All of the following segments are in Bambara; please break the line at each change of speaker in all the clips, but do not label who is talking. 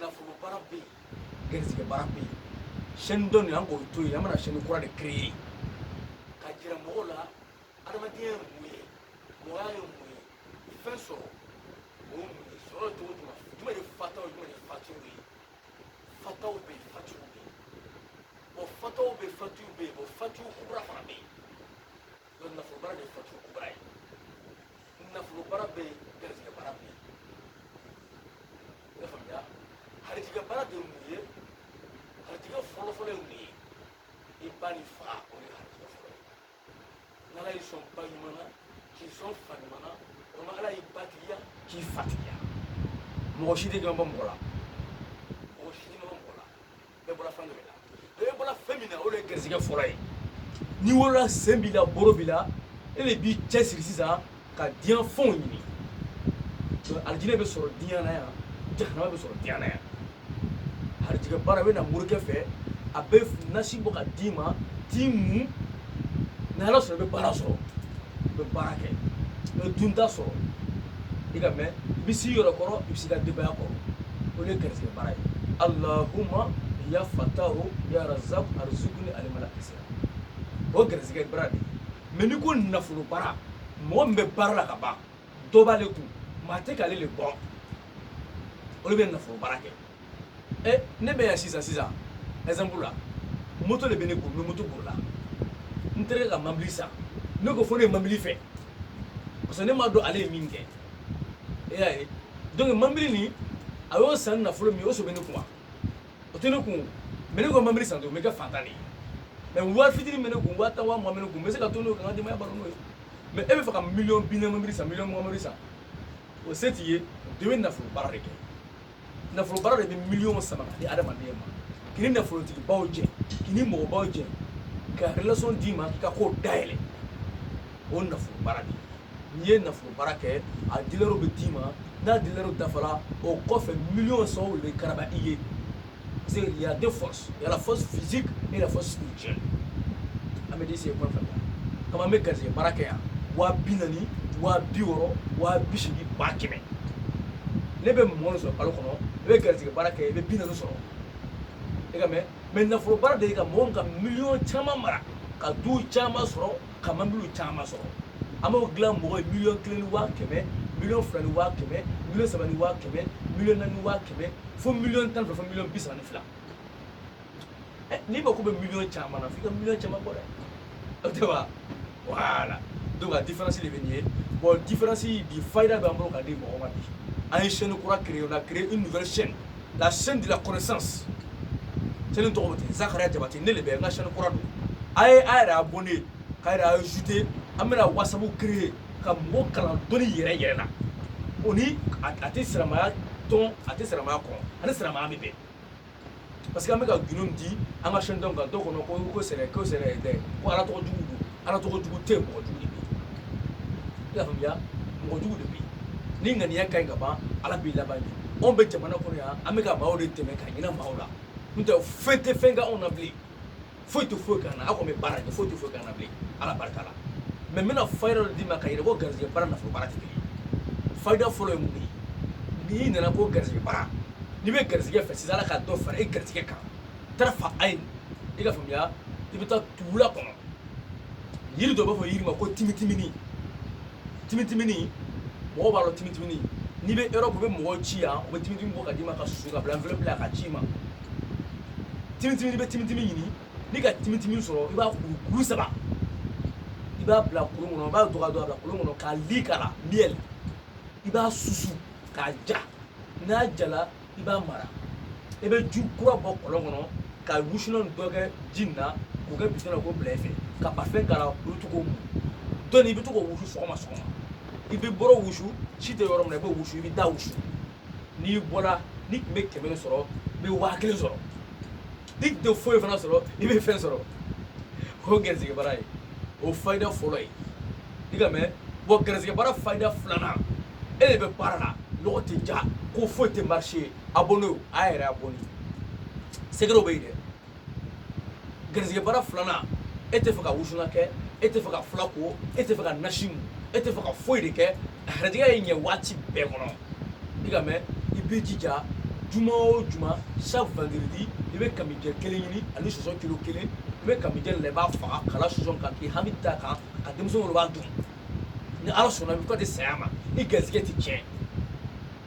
nafolo baara bɛ yen garisigɛ baara bɛ yen chaîne dɔ nin an k'o to yen an bɛna chaîne kura de créer ka jira mɔgɔw la adamadenya ye mun ye mɔgɔya ye mun ye fɛn sɔrɔ o ye mun ye sɔrɔ cogo jumɛn jumɛn de fataw jumɛn de fatiw ye fataw bɛ yen fatiw bɛ yen bon fataw bɛ yen fatiw bɛ yen bon fatiw kura fana bɛ yen donc nafolo baara de tɛ garisigɛ baara ye nafolo baara bɛ yen garisigɛ baara bɛ yen i y'a faamuya harijigɛ baara de ye mun ye harijigɛ fɔlɔfɔlɔ ye mun ye i ba n'i fa o ye harijigɛ fɔlɔ ye n'ala y'i sɔn ba ɲuman na k'i sɔn fa ɲuman na walima ala y'i ba tigiya k'i fa tigiya mɔgɔ si tɛ jɔn bɔ mɔgɔ la bɛɛ bɔra fɛn dɔ de la bɛɛ bɔra fɛn min na o de ye garisigɛ fɔlɔ ye n'i wolola sen b'i la boro b'i la e de b'i cɛsiri sisan ka diɲɛ fɛnw ɲini alijinɛ bɛ sɔrɔ diɲɛ na yan jahanama bɛ sɔrɔ diɲɛ na yan harijigɛ baara bɛ na morikɛ fɛ a bɛ nasi bɔ ka d'i ma t'i mun ni ala sɔnna i bɛ baara sɔrɔ i bɛ baara kɛ i bɛ dunta sɔrɔ quand même i bɛ s'i yɛrɛ kɔrɔ i bɛ s'i ka denbaya kɔrɔ o de ye garisigɛ baara ye alahuma ya fatahu ya razak arzukuni alimala kisira o garisigɛ baara de mais n'i ko nafolo baara mɔgɔ min bɛ baara la ka ban dɔ b'ale kun mais a tɛ k'ale le bɔ o de bɛ nafolo baara kɛ eh, ne bɛ yan sisan sisan exemple la moto de bɛ ne kun n bɛ moto bolila n terikɛ ka mobili san ne ko fo ne ye mobili fɛ parce que ne m'a dɔn ale ye min kɛ e y'a ye donc mobili nin a y'o san nafolo min ye o so bɛ ne kun wa o tɛ ne kun mais ne ko mobili san to n bɛ kɛ fantan de ye mais wari fitinin bɛ ne kun waa tan waa mugan bɛ ne kun n bɛ se ka to n'o ye ka n ka denbaya balo n'o ye mais e bɛ fɛ ka miliyɔn bi naani mobili san miliyɔn mugan mobili san o se t'i ye dɔ bɛ nafolo baara de kɛ nafolo baara de bɛ miliyɔn sama ka di adamaden ma k'i ni nafolotigibaw jɛ k'i ni mɔgɔbaw jɛ ka relation d'i ma k'i ka kow dayɛlɛ o nafolo baara de n'i ye nafolo baara kɛ a daliluw bɛ d'i ma n'a daliluw dafara o kɔfɛ miliyɔn sɔngɔ de bɛ karaba i ye parce que il y a deux forces y a la force physique et la force spirituelle an bɛ disi ye kuma fɛ kama an bɛ garisɛgɛ baara kɛ yan waa bi naani waa bi wɔɔrɔ waa bi seegin ba kɛmɛ n'i bɛ mugan sɔrɔ kalo kɔnɔ i bɛ garisɛgɛ baara kɛ i bɛ bi naani sɔrɔ quand même mais nafolo baara de ye ka mɔgɔw ka miliyɔn caman mara ka du caman sɔrɔ ka mobili caman sɔrɔ an b'o dilan mɔgɔ ye miliyɔn kelen ni waa kɛmɛ miliyɔn fila ni waa kɛmɛ miliyɔn saba ni waa kɛmɛ miliyɔn naani ni waa kɛmɛ fo miliyɔn tan ni fila fo miliyɔn bi saba ni fila eh, n'i mako bɛ miliyɔn caman na f'i ka miliyɔn caman bɔ dɛ o tɛ wa voilà donc a différence de bɛ nin ye bon différence bi fayida b'an bolo ka di mɔgɔ ma bi an ye chaîne kura créer on a créé une nouvelle chaîne la chaîne de la connaissance chaîne tɔgɔ ten zakariya jabate ne le bɛ n ka chaîne kura don a ye a yɛrɛ abonné k'a yɛrɛ ajouté an bɛna whatsapp créer ka mɔgɔ kalan dɔnni yɛrɛ yɛrɛ la o ni a tɛ silamaya tɔn a tɛ silamaya kɔn a ni silamaya bɛ bɛn parce que an bɛ ka gundo di an ka chaîne dɔn kan dɔw kɔnɔ ko ko sɛnɛ ko sɛnɛ tɛ ko ala tɔgɔ jugu don ala tɔgɔ jugu tɛ mɔgɔ jugu de bɛ yen i y'a faamuya mɔgɔ jugu de bɛ yen n'i ŋaniya ka ɲi ka ban ala b'i laban de anw bɛ jamana kɔnɔ yan an bɛ ka maaw de dɛmɛ ka hinɛ maaw la n'o tɛ fɛn tɛ fɛn kɛ anw na bilen foyi tɛ foyi k'an na aw kɔni bɛ baara kɛ foyi tɛ foyi k'an na bilen ala barika la mɛ n bɛna fayida dɔ d'i ma ka yɛrɛ ko garijɛgɛ baara nafolo baara tɛ kelen ye fayida fɔlɔ ye mun de ye n'i nana ko garijɛgɛ baara n'i bɛ garijɛgɛ fɛ sisan ala ka dɔ fara e garijɛgɛ kan fa a ye i ka faamuya i bɛ taa tula kɔnɔ jiri dɔ b'a fɔ jiri ma ko timitimini timitimini mɔgɔ b'a dɔn timitimini n'i bɛ europe i bɛ mɔgɔ ci yan u bɛ timitimini bɔ ka d'i ma k'a su k'a bila enveloppe la k'a ci i ma timitimini i bɛ timitimini ɲini n'i ka timitimini sɔrɔ i b'a kuru kuru saba i b'a bila kolon kɔnɔ i b'a dɔgɔya dɔgɔya bila kolon kɔnɔ ka li k'a la miel i b'a susu k'a ja n'a jala i b'a mara i bɛ ji kura bɔ kɔlɔn kɔnɔ ka wusulan dɔ kɛ ji nin na k'o kɛ bidɔn na k'o bila i fɛ ka parfum k'a la i bɛ to k'o mun dɔnni i bɛ to k'o wusu sɔgɔma sɔgɔma i bɛ bolo wusu si tɛ yɔrɔ min na i b'o wusu i b'i da wusu n'i bɔra n'i tun bɛ kɛmɛ sɔrɔ i bɛ waa kelen sɔrɔ n'i tɛ foyi fana sɔrɔ i bɛ fɛn sɔrɔ o gɛrisigɛ baara ye o fayida fɔlɔ ye i ka mɛn bɔn gɛrisigɛ baara fayida filanan e de bɛ baara la lɔgɔ tɛ diya ko foyi tɛ marché abonné o a yɛrɛ abonné secretw bɛ yen dɛ gɛrisigɛ baara filanan e tɛ fɛ ka wusulan kɛ e tɛ fɛ ka fila ko e tɛ fɛ ka nasi mun e tɛ fɛ ka foyi de kɛ garijɛgɛ ye ɲɛ waati bɛɛ kɔnɔ i ka mɛn i bɛ jija juma o juma chaque vendredi i bɛ kamijɛ kelen ɲini ani sɔsɔ kilo kelen i bɛ kamijɛ i b'a faga k'a la sɔsɔ kan k'i hami da a kan ka denmisɛnw wele u b'a dun ni ala sɔnna bi ka t'i saya ma i garisɛgɛ tɛ tiɲɛ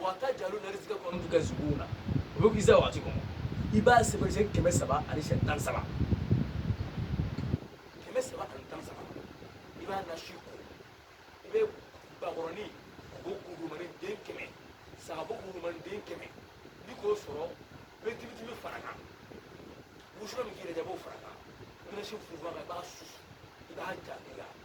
wa tajaluna rizikakum anakum tukazibuna o bɛ iza wakati kɔnɔ i b'a sɛbɛn siyɛn kɛmɛ saba ani siyɛn tan saba kɛmɛ saba ani tan saba i b'a nasi ko i bɛ bakɔrɔnin bo kurumani den kɛmɛ sagabo kurumani den kɛmɛ n'i k'o sɔrɔ i bɛ timitimi fara kan wusulan min ka d'i yɛrɛ ye i b'o fara kan i bɛ nasi funfun a kan i b'a susu i b'a ja i la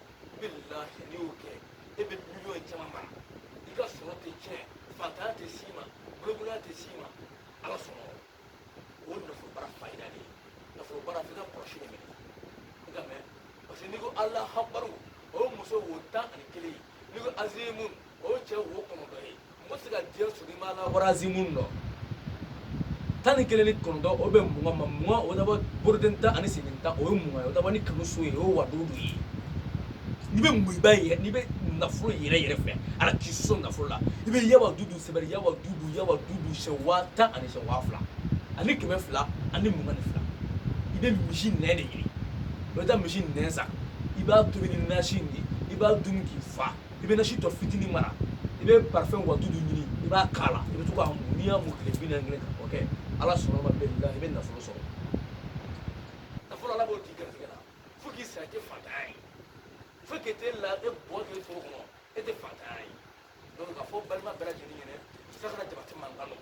bilahi n'i y'o kɛ e bɛ miliyɔn caman mara i ka sɔrɔ tɛ tiɲɛ fantanya tɛ s'i ma bolokoloya tɛ s'i ma ala sɔnna o nafolo baara fayida de ye nafolo baara f'i ka kɔlɔsi de minɛ i ka mɛn parce que n'i ko ala habaru o ye muso wo tan ani kelen ye n'i ko azimun o ye cɛ wo kɔnɔntɔn ye mɔgɔ tɛ se ka diɲɛ sɔrɔ i ma la warazi minnu dɔn tan ni kelen ni kɔnɔntɔn o bɛ mugan ma mugan o dabɔ boroden tan ani senden tan o ye mugan ye o dabɔ ni kanu so ye o ye wadudu ye n'i bɛ muɲuba yɛrɛ n'i bɛ nafolo yɛrɛ yɛrɛ fɛ ala k'i so nafolo la i bɛ ya wadudu sɛbɛn ya wadudu ya wadudu sɛ waa tan ani sɛ waa fila ani kɛmɛ fila ani mugan ni fila i bɛ misi nɛn de ɲini i bɛ taa misi nɛn san i b'a tobi ni nasi nin ye i b'a dun k'i fa i bɛ nasi tɔ fitinin mara i bɛ parfum wa duuru ɲini i b'a k'a la i bɛ to k'a mun n'i y'a mun tile bi naani kelen ka o kɛ ala sɔnna ma bɛn i bɛ nafolo sɔrɔ nafolo ala b'o di garijɛgɛ la fo k'i sa i tɛ faantanya ye fo k'i tɛ la e bɔ k'i foro kɔnɔ e tɛ faantanya ye donc k'a fɔ balima bɛɛ lajɛlen ɲɛna i tɛ se ka jabati mankan dɔn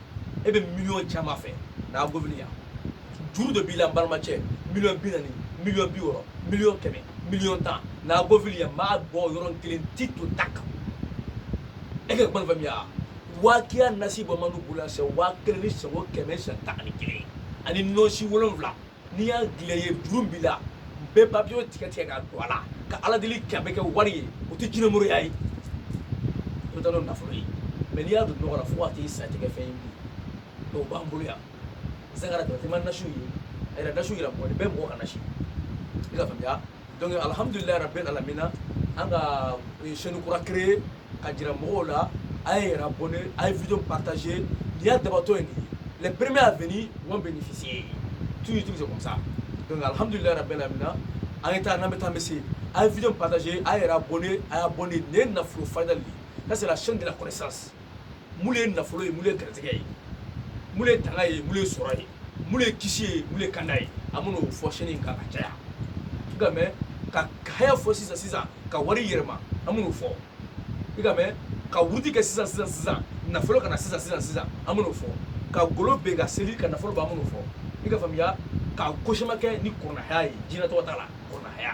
e bɛ miliyɔn caman fɛ n'a gofini yan juru dɔ b'i la n balimacɛ miliyɔn bi naani miliyɔn bi wɔɔrɔ miliyɔn kɛmɛ miliyɔn tan n'a gofini yan n b'a bɔ yɔrɔn kelen ti to ta kan e ka kuma faamuya wakiya nasiba b'anw bolo yan sɛ waa kelen ni sɛbo kɛmɛ sɛ tan ani kelen ani nɔsi wolonwula n'i y'a dilan i ye juru min b'i la bɛɛ papiye tigɛ tigɛ ka don a la ka ala deli kɛ a bɛ kɛ wari ye o tɛ jinɛmoroya ye o tɛ nafolo ye mais n'i y'a don nɔgɔ la fo ka t'i sa tɛ kɛ fɛn ye bi dɔw b'an bolo yan zagara dɔ tɛ ma nasiw ye a yɛrɛ nasiw yɛrɛ mɔgɔ bɛɛ mɔgɔ ka nasi i ka faamuya donc alhamdulilayi rabbil alamina an ka chaîne kura créer ka jira mɔgɔw la a ye yɛrɛ abonné a ye video partager nin y'a dabɔtɔ ye les premiers à venir vont bénéficier toujours c'est comme ça donc alhamdulillah rabbil alamin an ye taa n'an bɛ taa an bɛ se a ye video partager a ye yɛrɛ abonné a y'a abonné nin ye nafolo fayida de ye ça c'est la chaîne de la connaissance mun de ye nafolo ye mun de ye garijɛgɛ ye mun de ye tanga ye mun de ye sɔrɔ ye mun de ye kisi ye mun de ye kanda ye an bɛna o fɔ sanni kan ka caya i ka mɛn ka haya fɔ sisan sisan ka wari yɛlɛma an bɛna o fɔ i ka mɛn ka wurudi kɛ sisan sisan sisan nafolo ka na sisan sisan sisan an bɛna o fɔ ka golo bɛn ka seli ka nafolo bɔ an bɛna o fɔ i ka faamuya ka ko sɛbɛ kɛ ni kuranɛ haya ye jinɛ tɔgɔ t'a la kuranɛ haya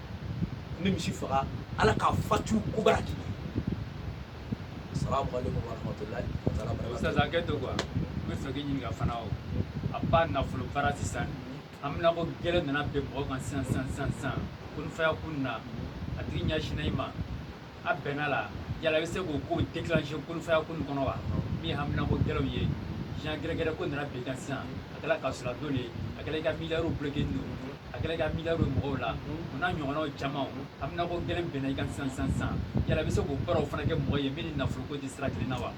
n bɛ misi faga ala k'a fatu kubara k'i salamu alaikum warahmatulahi taala barakatuh ustaz an kɛ to quoi n b'a fɛ k'i ɲininka fana o a ba nafolo baara sisan an bɛna ko gɛlɛn nana bin mɔgɔ kan sisan sisan sisan sisan kun fayakun na a tigi ɲɛsinna i ma a bɛnna la yala i bɛ se k'o ko déclencher kun fayakun kɔnɔ wa min ye hamina ko gɛlɛnw ye jan gɛrɛgɛrɛ ko nana bin i kan sisan a kɛra kaso la don de a kɛra i ka miliyariw bloqué don a kɛra i ka miliyariw ye mɔgɔw la o n'a ɲɔgɔnnaw caman hamina ko gɛlɛn binna i kan sisan sisan sisan yala i bɛ se k'o baaraw fana kɛ mɔgɔ ye min ni nafolo ko tɛ sira kelen na wa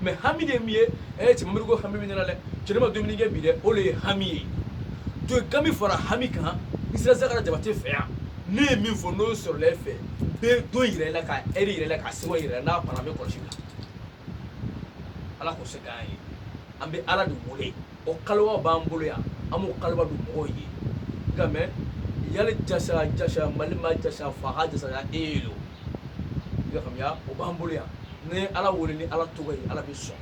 mais hami de min ye ɛ cɛ m'a miiri ko hami bɛ ne na dɛ cɛ ne ma dumuni kɛ bi dɛ o de ye hami ye to kami fara hami kan isira zakara jabate fɛ yan ne ye min fɔ n'o sɔrɔla e fɛ bɛ don yɛrɛ la ka ɛri yɛrɛ la ka sewa yɛrɛ n'a fana bɛ kɔlɔsi la ala k'o se d'an ye an bɛ ala de wele o kaliwa b'an bolo yan an b'o kaliwa don mɔgɔw ye nka mɛ yali jasa jasa mali ma jasa faga jasa ya e ye lo i ka faamuya o b'an bolo yan ni ala welela ni ala tɔgɔ ye ala bɛ sɔn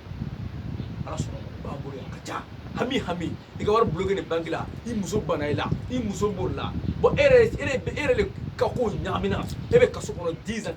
ala sɔnna o b'an bolo yan ka ca hami hami i ka wari bulokelen banki la i muso banna i la i muso b'o la bɔn e yɛrɛ e yɛrɛ de ka ko ɲagamina e bɛ kaso kɔnɔ 10 ans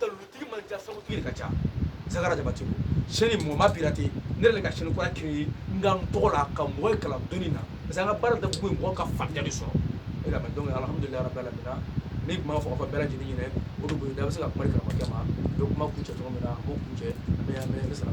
Dalilutigi man ca sabu ka ca saga jabate chaîne mɔgɔ m'a piraté ne de ka chaîne kura créer n tɔgɔ la ka mɔgɔ kalan dɔnni na parce an ka baara tɛ foyi mɔgɔ ka fayida sɔrɔ e ala la ni tun b'a fɔ ka bɛɛ lajɛlen ɲini o dugu da bɛ se ka kuma kɛ ma kuma kuncɛ cogo min na o kuncɛ bɛ sara